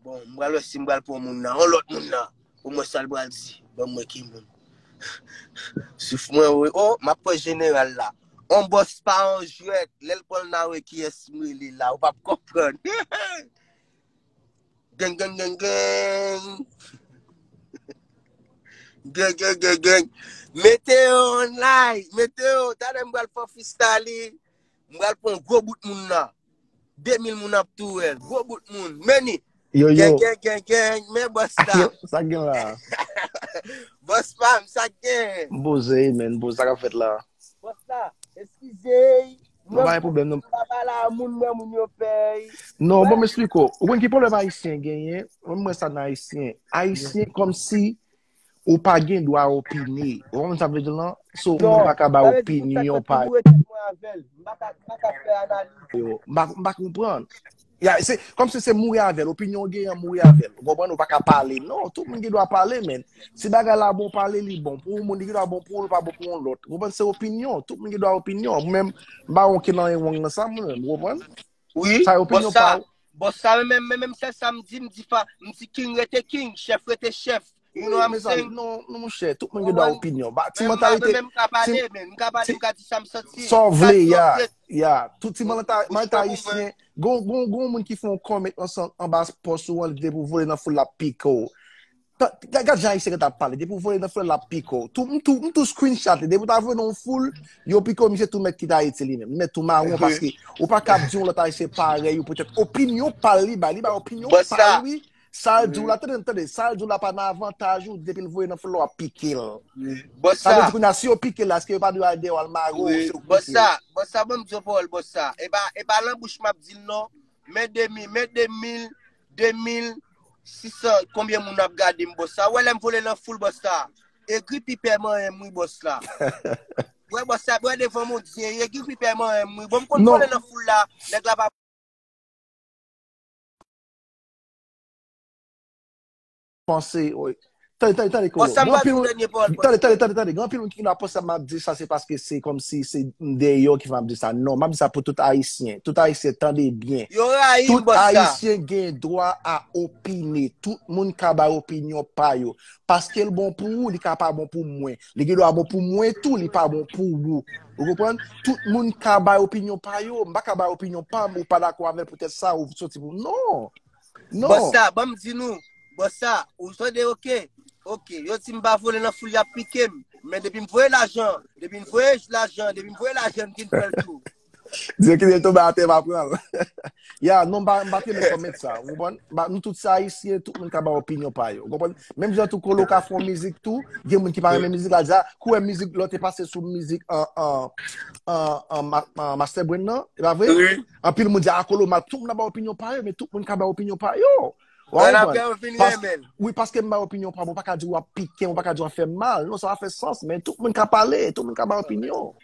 Bon, m pral wè si m pral pran moun nan. On lòt moun nan. Pou mwen sal pral di. Bon mwen ki moun. Souf mwen wè. Oh, m ap pran jeneral la. On bòs pa on jwèt. Lè l pran l nan wè ki es m rele la. Ou pa p konprann. Geng, geng, geng, geng. Geng, geng, geng, geng. Mete yo on lay. Mete yo. Tade m pral fò fistali. M pral pran gwo bout moun la. 2000 moun ap tou wèl. Gwo bout moun. Meni. Yo yo. Geng geng geng geng. Men bòs la. Sa gen la. Bòs pa m sa gen. M boze men. Boze sa ka fèt la. Bòs la. Eskize. Mwen bay pou bèm nan. M pa bala a moun mè moun yo pèy. Non bon m espliko. Ou konn ki pwoblèm ayisyen genyen. Mwen mwen sa nan ayisyen. Ayisyen kòm si Ou pa gen dwa opine. Ou konprann sa m vle di lan? So, mwen pa ka bay opinyon pa. Non, sa vle di m pa ka boure tèt mwen avè l. M pa ka, m pa ka fè analiz. Yo, m pa, m pa konprann. Ya, se, kòm se se mouri avè l. Opinyon ou genyen, mouri avè l. Ou konprann? Ou pa ka pale. Non, tout moun gen dwa pale, men. Si bagay la bon pale, li bon pou yon moun, li gen dwa bon pou ou, li pa bon pou yon lòt. Ou konprann? Se opinyon. Tout moun gen dwa opinyon. Mwen menm, m pa gen okenn anyen wrong nan sa mwen menm. Ou konprann? Wi, Sa yo bòs opinyon sa, pa ou. bòs sa men menm, men menm sèl sa m di, m di pa, m di king rete king, chèf rete chèf, you know Wi, I'm mezanmi, saying? non, non monchè, tout moun gen dwa Konprann? opinyon. Ba, ti Men m pa, men mantalite, men m ka ti, pale, men m ka pale, ti, m ka di sa m santi, sa w m ka vle, di ya, ok, ya, tout ti ou, manta, ou manta chita pou mwen. ayisyen, gon, gon, gon moun ki fè yon comment ansan anba pòs ou an, li vle pou vole nan foul la pike w. Gad jan ayisyen ta pale, depi ou voye nan foul la ap pike w. Tou, m tou, m tou screenshot li. Depi ou ta voye nan foul, yo pike w, misye tou mèt kite Ayiti li menm. Li mèt tou mawon paske ou pa kab di yon lòt ayisyen parèy ou poutèt opinyon pa l li bay. Li bay opinyon Bòs pa sa. l wi. Sa l di w la, tande, tande, sa l di w la pa nan avantaj ou, depi l voye nan foul la w ap pike l. Bòs Sa sa. vle di kounye a, si yo pike l la, eske yo pa dwe al deyò al mare w, se ou k Bòs pike. sa, bòs sa, ban m di yon pawòl bòs sa. E pa, e pa lan bouch m ap di l non. Men 2000, men 2000, 2600 konbyen moun ap gadem boss la wè lèm vole nan foul boss la egri pipè manyenm wi boss la wè boss la wè devan mondye egri pipè manyenm wi bon m konn vole nan foul la nèg la pa panse oy. Tande, tande, tande, Bon, Colo. sa m Gen pral anpil di w moun, dènye pawòl mwen. tande, tande, tande, tande. Gen anpil moun ki vin ap panse m ap di sa se paske se kòmsi se m deyò ki fè m ap di sa. Non, m ap di sa pou tout Ayisyen. Tout Ayisyen, tande byen. Yo rayi m Tout bòs sa. Ayisyen gen dwa a opine. Tout moun ka bay opinyon pa yo. Paske l bon pou ou, li ka pa bon pou mwen. Li gen dwa bon pou mwen tou, li pa bon pou ou. Ou konprann? Tout moun ka bay opinyon pa yo. M pa ka bay opinyon pa m, ou pa dakò avè l poutèt sa, ou soti pou m. Non! Non. Bòs sa, ban m di nou, bòs sa, ou tande ok, ok, yo di m pa vole nan foul y ap pike m, men depi m voye lajan, depi m voye lajan, depi m voye lajan m vin pran l tou. Di yo kite l tonbe atè m a pran l. Ya, non m pa, m pa te men kòmèt sa, ou konprann? Ba, nou tout se Ayisyen, tout moun ka bay opinyon pa yo, ou konprann? Menm jan tou Colo ka fè yon mizik tou, gen moun ki pa renmen mizik la, di a, kou wè mizik lòt te pase sou mizik Master Brain nan, e pa vre? Anpil moun di a kolo mal, tout moun ap bay opinyon pa yo, men tout moun ka bay opinyon pa yo. Wap konprann? Apre yo vin renmenl. Wi, paske m bay opinyon pa m, ou pa ka di wap pikem, ou pa ka di wap fèm mal. Non, sa pa fè sans, men tout moun ka pale, tout moun ka bay opinyon.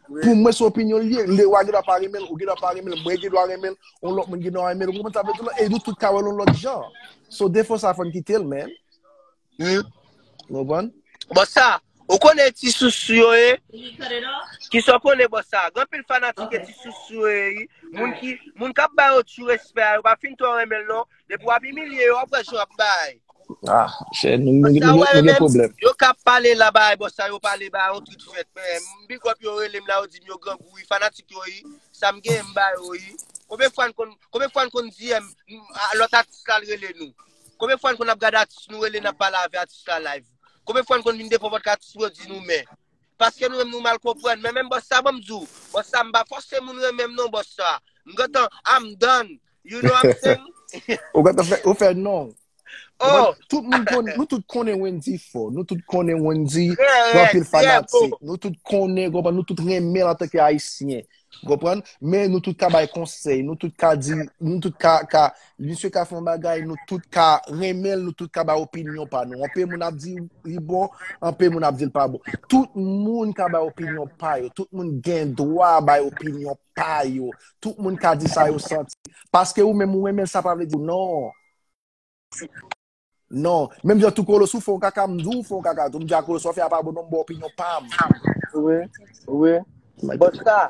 Pou mwen se opinyon li ye, Lewa gen dwa pa renmenl, ou gen dwa pa renmenl, mwen gen dwa renmenl, yon lòt moun gen dwa renmenl, ou konprann sa m vle di w la? E nou tout ka wèl yon lòt jan. So defo sa fòn kitel men. Mwen Bon sa, ou konnen ti sousou yo ye? Kisa ou konnen bon sa? Gen pil fanatik ke ti sousou yo ye wi. Moun ki, moun kap bay yo tu respè a, yo pa fin twò renmen l non. Depi wap imilye yo, wap wè jan yap bay. Ah, chè, nou Bon sa, ou wè yo gen menm, pwoblèm. yo ka pale la bay bon sa, yo pale ba yon trit fèt. Men, m big up yo, rele m la, yo di m yo grangou wi, fanatik yo wi. Sa m genyen m ba yo wi. Konbyen fwa n konn, konbyen fwa n konn di M, a, lòt atis la al rele nou? Konbyen fwa n konn ap gade atis nou rele n ap pale avè atis la live? Konbyen fwa n konn vin devan pòdkast atis nou di nou mè? Paske nou menm nou mal konprann. Men menm bòs sa banm di w, bòs sa m pa fòse moun renmen m non bòs sa. M gentan I'm done. You know I'm saying? Ou gentan fè, ou fè non. Oh, Tout moun konnen, nou tout konnen Wendy fò. Nou tout konnen Wendy trè gen rèd, anpil trè bo. fanatik. Nou tout konnen, konprann, nou tout renmen l antanke Ayisyen. Ou konprann? Men nou tout ka bay konsèy, nou tout ka di, nou tout ka, ka, misye ka fon bagay, nou tout ka renmen, nou tout ka ba opinyon pa nou. Anpe moun ap di li bon, anpe moun ap di l pa bon. Tout moun ka bay opinyon pa yo, tout moun gen dwa bay opinyon pa yo, tout moun ka di sa yo santi. Paske ou menm ou renmen l sa pa vle di non. Non, menm jan tou koloso fè yon kaka m di w fè yon kaka tou, m di a koloso sa w fè a pa bon non m ba w opinyon pa m. Wi, wi. Bosta,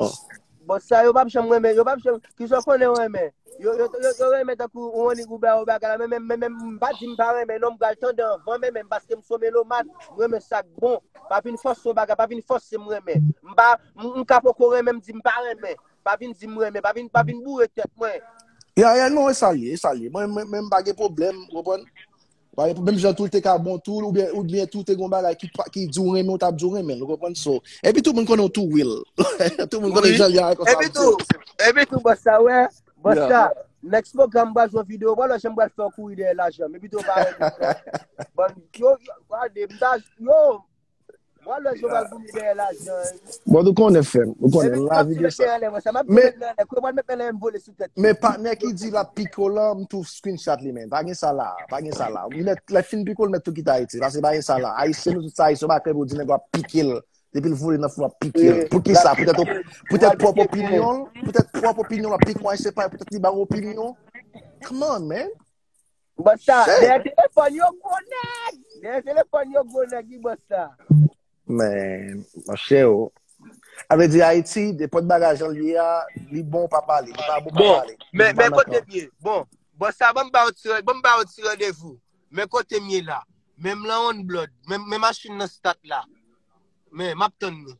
bosta yo pap janm renmen, yo pap janm, kisa w konnen yo renmen? Yo, yo, yo renmen tankou yon nig ou ba yo bagay la, men menm, men menm m pa di m pa renmen non, m pral tande anvan men menm paske m son melomàn, m renmen sa k bon. Pa vin fòse yon bagay, pa vin fòse m renmen. M pa, m ka poko renmen m di m pa renmen. Pa vin di m renmen, pa vin, pa vin boure tèt mwen. Ya, ya, non, e sa l ye, e sa l ye. Mwen, mwen, mwen m pa gen pwoblèm, ou konprann? M pa gen pwoblèm, menm jan tou l te ka bon tou l, oubyen, oubyen tou te gon bagay ki pa, ki di w renmen, w ta ap di w renmen l, ou konprann? So, epi tou moun konnen w tou Will. Tout moun konnen jan l ye a, konsa Epi l tou, di. epi tou bòs sa wè, bòs Ya. sa, next program m pral jwenn videyo, w pa wè jan m pral fè w kouri dèyè lajan m, epi tou w pa renmen m non. Bann, yo, yo, gade, m ta, yo, Mwen lè Joval Boumie dèyè lajan. Bon, nou konnen fèm. Nou konnen. Mwen la vide sa. Men, men patnè ki di la piko lan, m tou screen chat li men. Pa gen sa la. Pa gen sa la. Ou met, lè fin piko l met tou kite Ayiti. Pase pa gen sa la. Ayisyen nou tout sa Ayisyen. Ou pa kèm ou di nèg wap pike l. Depi l vole nan fou wap pike l. Pou ki sa? Poutèt ou, poutèt pwòp opinyon l? Poutèt pwòp opinyon l wap pike yon Ayisyen pay poutèt li ba ou opinyon? Come on man. Bosta, dèyè telefòn yo gwo nèg! Dèyè telefòn yo gwo nèg wi Bosta. Men, monchè o. A vle di Ayiti, depòt bagay jan l ye a, li bon pa pale, li pa bon pa pale. Bon, men, men kote m ye. Bon, Bosta banm ba w ti, banm ba w ti randevou. Men kote m ye la. Men m lan on blòd. Men machin nan stat la. Men, m ap tann nou.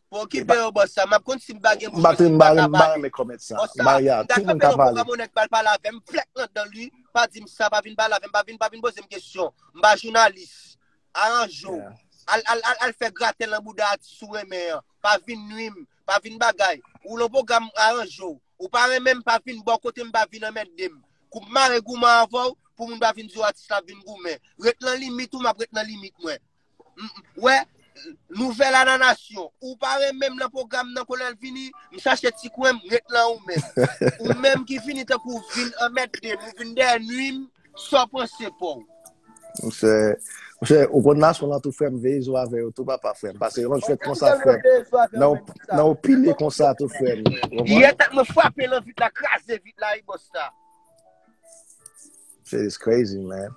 Bon ki pe yo boss sa map konn sim pa gen bouch mwen sim pa ka pale. Boss sa mda tape nan pwogram yon nèg pral pale avèm flèk nan dan li pa dim sa pa vin pale avèm pa vin pa vin pozem kesyon mpa jounalis aranjew al al al al fè graten nan bouda atis ou renmen an pa vin nwim pa vin bagay ou nan pwogram aranjew ou pa renmenm pa vin bò kotem pa vin anmèdem koum mare gouman avèw pou moun pa vin diw atis la vin goumen ret nan limit ou map ret nan limit mwen Wè Nouvel a nan nasyon. Ou pa renmenm nan program nan kolèl vini, m chache ti kwen m ret lan ou menm. Ou menm ki fini tankou w vin anmède m, ou vin dèyè nwi m, sa w panse pouw? Monchè, monchè, ou konn nasyon lan tou frèm, veye zo avè yo tou papa frèm, pase yon lòt jwèt konsa frèm, nan ou pile konsa tou frèm. Yè tèt mwen frape lan vit la, kraze vit la wi boss la. Shit is crazy man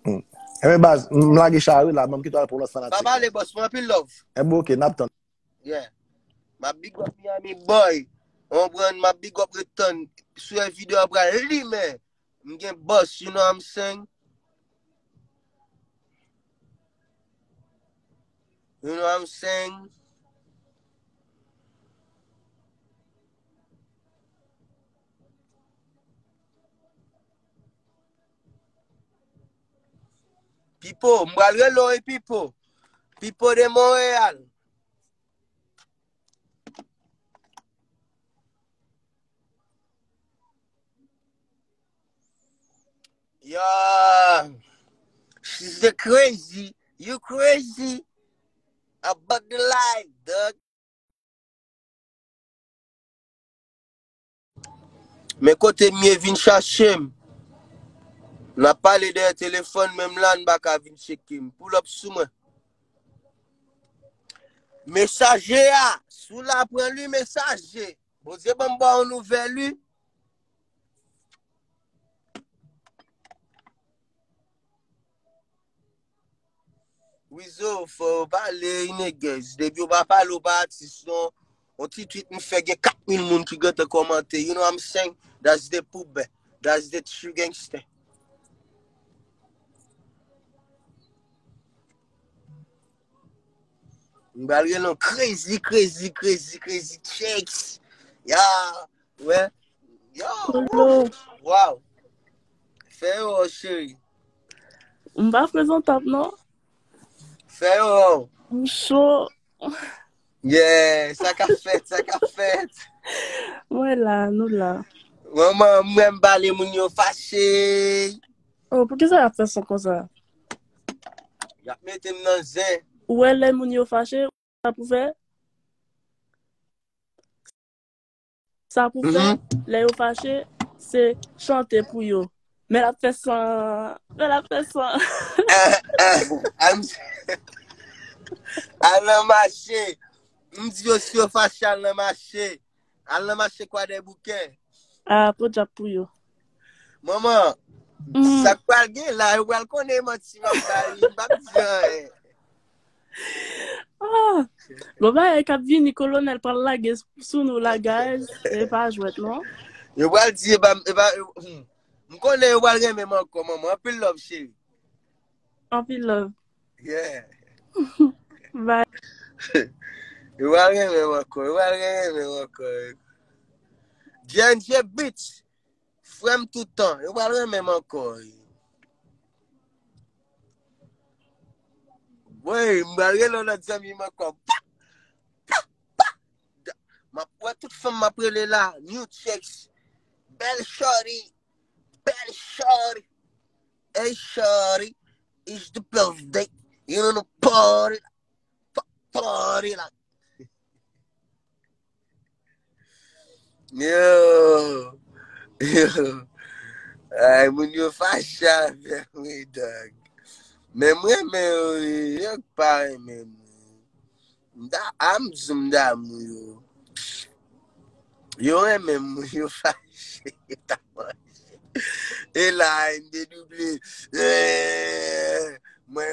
hmm. Emen eh baz, m lage chari la, m kitwa pou lòt fanatik. Baba le boss, m anpil love. E eh, bo ok, nap tan. Yeah. Ma big up Miami boy. On brand ma big up return. Sou e video apra li men. M gen boss, you know I'm saying? You know I'm saying? Pipo, m bral rele w wi Pipo. Pipo de Montréal. Yo, she's a crazy. You crazy. About the life, dog. Men kote Ninie vin chache m. N ap pale dèyè telefòn, menm la n pa ka vin tcheke m. Pull up sou mwen. Mesaje a, si w la pran li mesaje. Bondye ban m ba w nouvèl li. Wizo fò ou pale inègèz. Depi ou pa pale ou pa atis non. On ti tweet m fè gen 4000 moun ki gentan kòmante. You know I'm saying? That's the poubè. That's the true gangster. M bal gen non crazy, crazy, crazy, crazy checks. Ya, wè. Yo, Kolo. wow. Fè yo, chéri. M pa prezantab non. Fè yo wè w. M cho. Yeah, sa ka fèt, sa ka fèt. Mwen la, nou la. Mwen mwen mwen bale moun yo fache. Oh, pou ki sa ap fè son konsa? Yap metem nan zen. Ou wè lè moun yo fache, sa pou fè? Sa pou fè, lè yo fache, se chante pou yo. Men l ap fè san, men l ap fè san. Al nan mache, m di yo si yo fache al nan mache. Al nan mache kwadèboukè. A, podyab pou yo. Manman, sa pral gen la, yo pral konnen manti m ap bay, m pa p di anyen. Ah, bon bagay kap vini kolonel pral lage sou nou la guys. Se pa jwet non. Yo pral di e ba e ba hmm. m konnen yo pral renmen man ko maman. Anpil love chéri. Anpil love. Yeah. Bye. yo pral renmen man ko. Yo pral renmen man ko. Jenje bitch. Frèm tout tan, yo pral renmen m ankò. Wey, m pral rele lòt zanmi m ankò. Pa! Pa! Pa! M ap wè tout fanm m ap rele la, new chicks. Bèl shorty, bèl shorty. Hey shorty, it's the birthday. You know the party, pa, party la. Ay moun yo fache avèm wi dòk. Men m renmen yo wi, yo k pa renmen m. M ta am di m damou yo. Yo renmen m wi, yo fache. E la MDW. Mwen.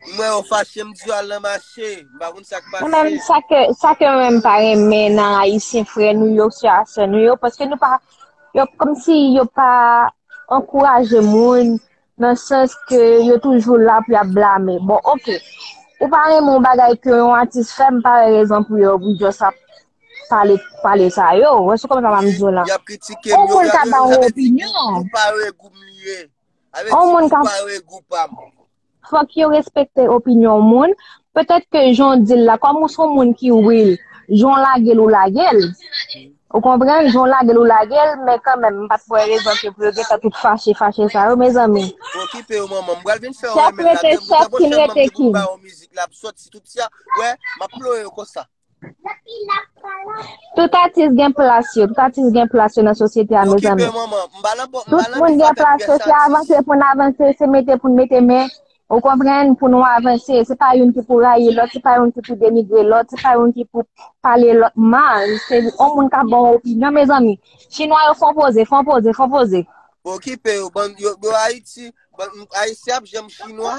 M wè yo fache m di yo al nan mache, m pa konn sak Ou menm pase. sa ke sa ke mwen pa renmen nan ayisyen frè nou yo, sè a sè nou yo paske nou pa yo kòm si yo pa ankouraje moun nan sans ke yo toujou la pou y ap blame. Bon ok, ou pa renmen yon bagay ke yon atis fè m pa wè rezon pou yo pou jòs ap pale pale sa yo. Ou wè se kòman sa m ap di w lan. Y ap kritike m Yon yo, moun y ap ka ba menm w avèk ti gou, opinyon. gou pa regou m li ye. Avèk Yon ti moun gou ka pa regou pa m. Fòk yo respekte opinyon moun. Petèt ke jan w di l la, kòm ou se yon moun ki real, jan w lage l ou lage l. Ou konprann? Jan w lage l ou lage l, men kanmenm m pa t wè rezon ke pou yo gen tan tout fache fache sa yo mezanmi. Okipe yo manman. M pral vin fè yon Chèf remèd la rete demen chèf, bouda. Bon, kin Chèf, rete kin. Chèf, kin rete kin. Chèf, m pral ba w yon mizik la ap sòti tout, tia. Wè, m ap ploye yo konsa. Tout atis gen plas yo, tout atis gen plas yo nan sosyete a mezanmi. Okipe manman, mba lan bon, mba lan Tout moun gen plas yo, se avanse pou n avanse, se mete pou n mete men, ou konprann, pou nou avanse. Se pa youn ki pou rayi lòt, se pa youn ki pou denigre lòt, se pa youn ki pou pale lòt mal, se yon moun ka bon opinyon mezanmi. Chinwa yo fon poze, fon poze, fon poze. Okipe yo, ban yo, yo Ayiti, ban Ayiti ap janm chinwa.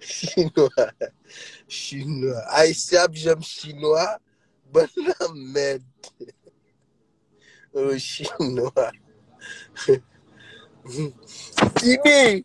Chinwa Chinwa Ayisyen ap janm chinwa Ban nan mèd Chinwa Tibi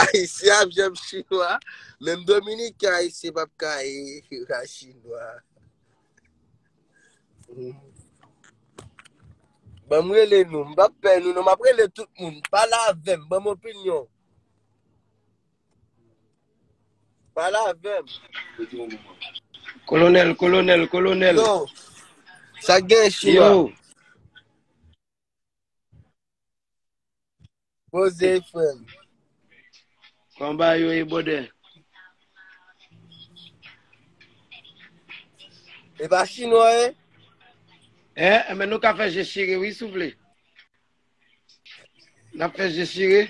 Ayisyen ap jèm chinwa, menm Dominik ya ayisyen pap ka e la chinwa. Ban mwen le nou, mwen pap pè nou, mwen ap rele tout moun, pala vèm, ban mwen opinyon. Pale avèm. Kolonel, kolonel, kolonel. Yo, sa gen chinois. Yo. Boze frèm. Konba yo e bode. E pa chinois e? Eh, eh, men nou ka fè je chire wi souple. Nap fè je chire.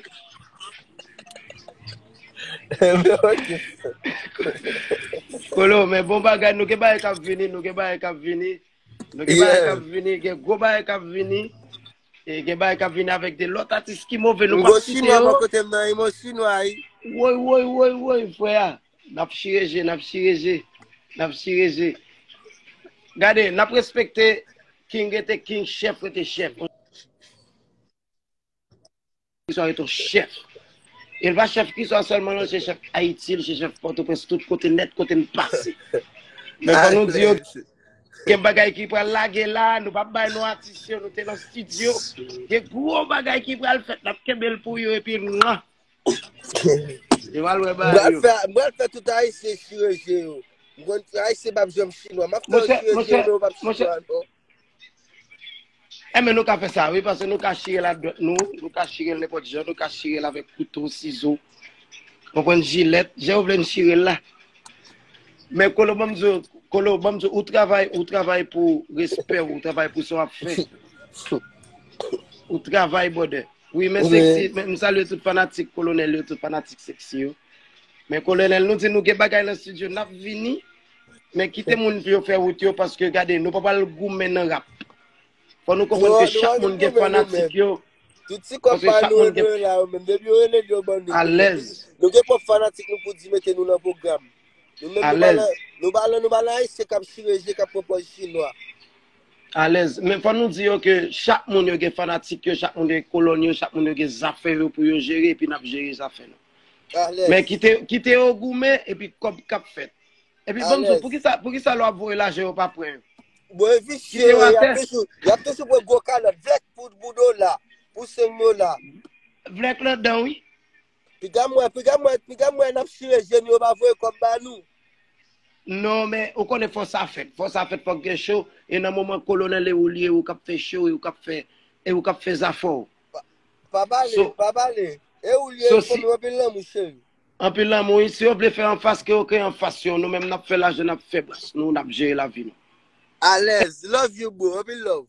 Kolo men bon bagay nou gen bagay kap vini, nou gen bagay kap vini. Nou gen bagay kap vini, gen gwo bagay kap vini. E gen bagay kap vini avèk de lòt atis ki move nou pa site yo. Mgo chinois bò kote m nan, e mwen chinois. Woy woy woy woy frè a. Nap chire je, nap chire je, nap chire je. Gade, nap respekte king rete king, chef rete chef. Kiswa rete yon chef. El pa chef kiswa selman non, se chef Ayiti, li se chef Pòtoprens, tout kote net kote m pase. Men fò nou di yo, gen bagay ki pral lage la, nou pa bay non atis yo, nou te nan studio. Gen gwo bagay ki pral fèt, nap kenbe l pou yo epi mwa. Yo mal wè bagay yo. M pral fè tout ayisyen chire je yo. M konn ayisyen pap janm chinwa. M ap fè yo chire je yo men yo pap chinwa ankò. Enben nou ka fè sa wi paske nou ka chire l ak dwèt nou, nou ka chire l nenpòt jan, nou ka chire l avèk kouto, sizo, konprann jilèt, jan yo vle n chire l la. Men Kolo banm di w, Kolo banm di w, ou travay, ou travay pou respè w, ou travay pou sa w ap fè. Ou travay brother. Wi men sexy m salye tout fanatik kolonel yo tout fanatik sexy yo men kolonel nou di nou gen bagay nan studio nap vini men kite moun pou yo fè wout yo paske gade nou pa pal goumen nan rap fò nou konprann ke chak moun gen fanatik yo tout ti kòp pa nou yo dwe la yo menm depi yo rele nou yo ban nou alèz nou gen pwòp fanatik nou pou di mete nou nan pwogram nou menm nou pa nan nou pa nan nou pa nan ayisyen kap chire je kap pran pòz chinwa. Alèz. Men fò nou di yo ke chak moun yo gen fanatik yo, chak moun gen kolòn yo, chak moun yo gen zafè yo pou yo jere epi n ap jere zafè nou. Alèz. Men kite, kite yo goumen epi kòb k ap fèt. Epi banm di w, poukisa, poukisa lè w ap voye lajan yo pa pran yo? Bon e visye yo ye, y ap toujou, y ap toujou pran gwo kalòt, vlèk pou dola, pou 5 dola. Vlèk ladan wi. Piga mwen, piga mwen, piga mwen nap chire jen yo pa voye kòb ba nou. Non men ou konnen fò sa fèt, fò sa fèt fòk gen show e nan moman kolonèl e ou li e ou kap fè show e ou kap fè e ou kap fè zafè w. Pa pale, pa pale. E ou li e li pwomèw anpil lanmou cheri. Anpil lanmou wi, si yo vle fè anfas ke yo ke anfas yo, nou menm nap fè lajan nap fè bas nou, nap jere lavi nou. Alèz, love you boo, anpil love.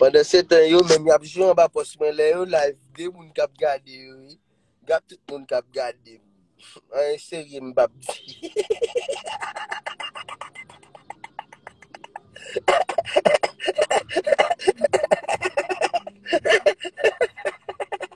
Pandan se tan yo menm yap jwe anba pòs mwen lè yo live de moun kap gade yo wi gad tout moun kap gade m anyen serye m pap di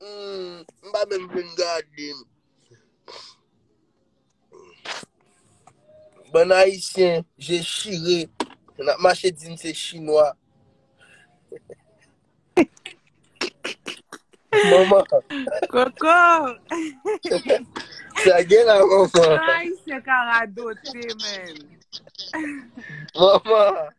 M pa menm vin gade. Bann ayisyen je chire nap mache di n se chinwa. Manman. Koko. Sa gen la manman. Sa ayisyen ka radote men. Manman.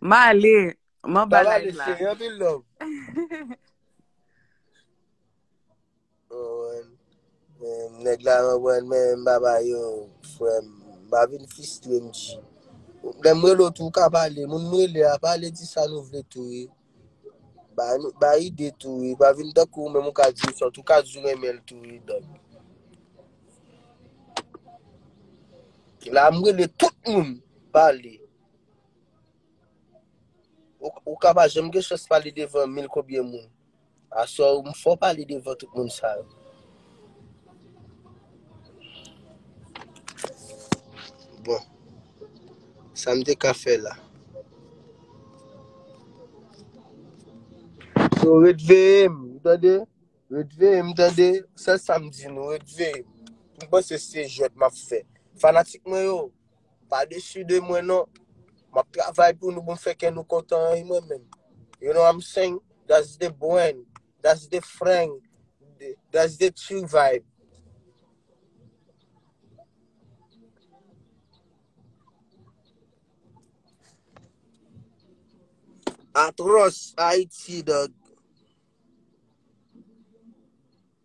M ale, m anba live la. Sa va ale cheri, anpil love. Nèg la anbwen men m pa ba yo frè m. M pa vin fistre m di. Lè m rele w tou w ka pale. Moun m rele a pale di sa nou vle tou. Ba nou, ba ide tou wi, pa vin tankou ou menm ou ka di sòt, ou ka di ou renmen l tou wi dòk. La m rele tout moun pale. Ou, ou ka pa janm gen chans pale devan mil konbyen moun. Aswè ou m fò pale devan tout moun sa yo. Bon. Sa m te ka fè la. So ret veye m, ou tande? Ret veye m tande? Sèl sa m di nou, ret veye m. M panse se jwèt m ap fè. Fanatik mwen yo, Pa desu de mwen non. Map travay pou nou pou m fè kè nou kontan an mwen menm. You know I'm saying? That's the brand. That's the frang. That's the true vibe. Atros Haiti dog.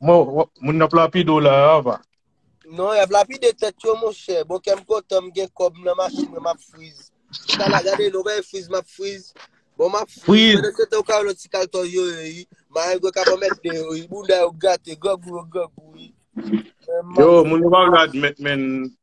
Moun nap lapide w la Ava. Non, yap lapide tèt yo monchè. Bon kèm kontan m gen kòb m nan machin mwen map friz. Sa la gade nou bay friz map friz. Bon map friz. Mwen se te ou ka yon ti kaltò yo yo yi. Ma yon gwe ka pa mèt de yo yi. Moun da yo gate, gwa gwe yo gwa gwe yi. Yo, moun yo pa vle admèt men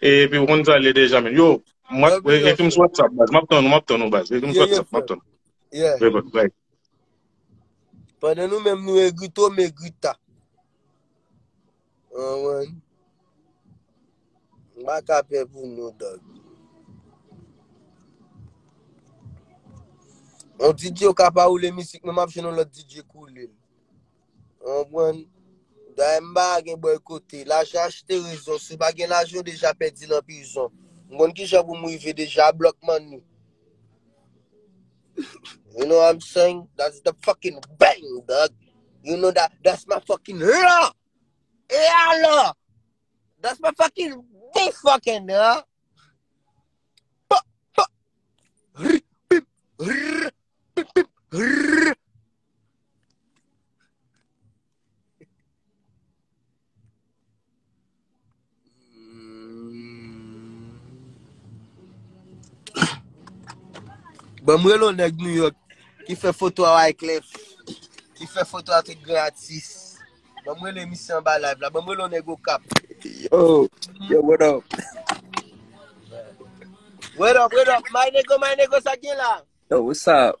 Epi ou konn sa l ye deja menn. Yo, ekri m sou WhatsApp baz. M ap tann ou, m ap tann ou baz. Ekri m sou WhatsApp, m ap tann ou. Pandan nou menm nou egri to, m egri ta. Anwen. M pa ka pè pou nou dòg. On DJ ou ka pa woule misik, men m ap jwenn on lòt DJ k woule l. Ou konprann? Dayè m pa gen bòykote. Lajan achte rezon. Si w pa gen lajan, w deja pèdi nan prizon. M konn ki jan pou m rive deja a Block Money. You know what I'm saying? That's the fucking bang, dog. You know that? That's my fucking law! E alò? That's my fucking big fucking law! Pop, pop! Rrr, pip, rrr, pip, pip, rrr! Bon mwen lò nèg New York ki fè foto a Wyclef, ki fè foto a tout gran atis. Bon mwen lè misye an ba live la. Bon mwen lò nèg Okap. Yo, yo what up? What up, what up? My nego, my nego sa gen la? Yo, what's up?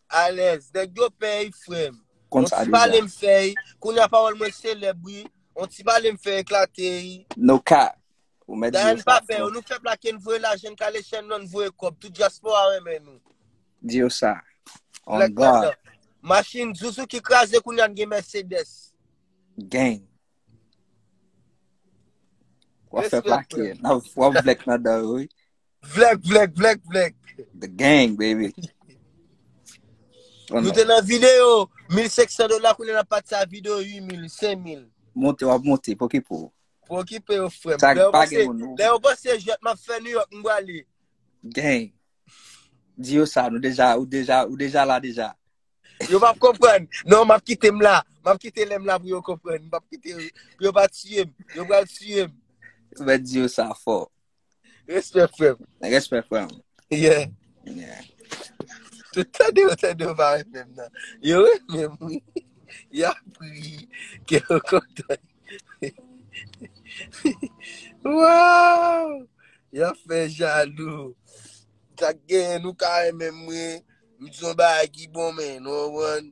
Alèz, nèg yo pèy frèm. Konn sa deja. On ti pale m fèy, kounya pawòl mwen selèb wi. On ti pale m fè eklate yi. No cap. Ou mèt di yo sa. Dayèn pa pè yo, nou fè plake n voye lajan n kale chèn nan n voye kòb. Tout dyaspora renmen nou. Di yo sa. On God. Lèk pandan. Machin zuzu ki kraze kounya n gen Mercedes. Gang. Wap fè plake. Wap vlèk nan dan yo wi. Vlèk, vlèk, vlèk, vlèk. The gang, baby. Nou te nan video, 1500 dola koune nan pati sa video 8000, 5000. Monte wap monte, pokipo. Pokipo yo frem. Sa gen pa gen moun. Lè yo bose jet map fè New York mwa li. Gang. Di yo sa, nou deja, ou deja, ou deja la deja. Yo map kompren. Non map kite m la. Map kite lem la pou yo kompren. Map kite, pou yo pa tiyem. Yo pral tiyem. Mwen di yo sa fò. Respè frèm. Respè frèm. Yeah. Yeah. Tout tande yo tande yo vare menm nan. Yo we menm wi. Ya pri. Ke yo kontan. Wow. Ya fè jalou. Sa gen nou kare menm wi. Mizon ba a ki bon men. Nou wan.